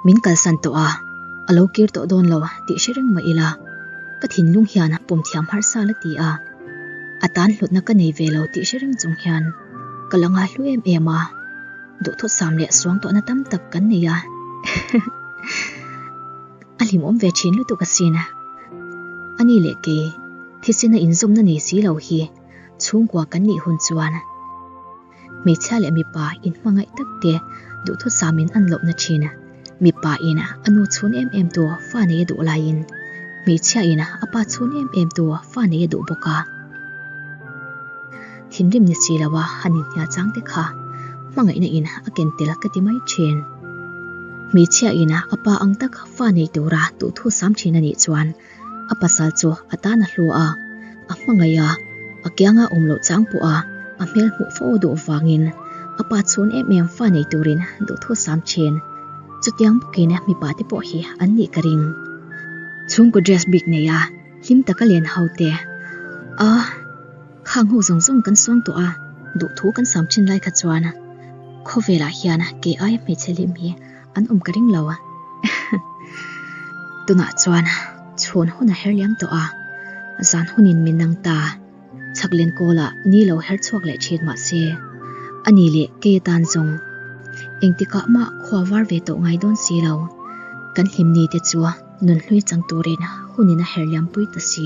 Min kalsan tawh a, a lo kir tawh dawn lo tih hre reng mah ila, ka thinlung hian pumthiam harh sal a ti a. A tan hlutna ka nei ve lo tih hre reng chung hian ka la ngai hlu em em a, duhthawtsam leh suangtuahna tam tak kan nei a, a hlimawm ve thin lutuk asin. A ni leh kei, Thisen a inzawmna nei si lo hi, chhungkua kan nih hun chuan. hmeichhia leh mipa inhmangaih tak te duhthawt sam in an lohna thin a, mipa in a nu chhun em em tu fa nei a duh lai in hmeichhia in a pa chhun em em tu fa nei a duh bawk a. Thinrim ni si lo a han inhnial chang te kha hmangaihna in a ken tel ka ti mai thin. Hmeichhia in a pa ang tak fa nei tura duhthut sam thin a nih chuan, A pasal chu a tan a hlua a, a hmangaih a, a kianga awm loh chang pawha a hmel hmuh fo duh avangin a pa chhun em em fa nei turin duhthu sam thin. Chutiang bawkin mipa te pawh hi an nih ka ring. Chhungkaw dress bik neia hlim taka len haute a khang ho zawng zawng kan suang tawh a, duhthu kan sam thin lai kha chuan khawvelah hian kei aia hmeichhe hlim hi, An awm ka ring lo a. Tunah chuan chhun hun a her liam tawh a, zan hunin min nang ta. Chhaklen kawla ni lo her chhuak leh thin mah se, ani leh kei atan zawng engtikah mah khua var ve tawh ngai dawn si lo. Kan hlim ni te chu nun hlui chang turin hunin a her liam pui ta si.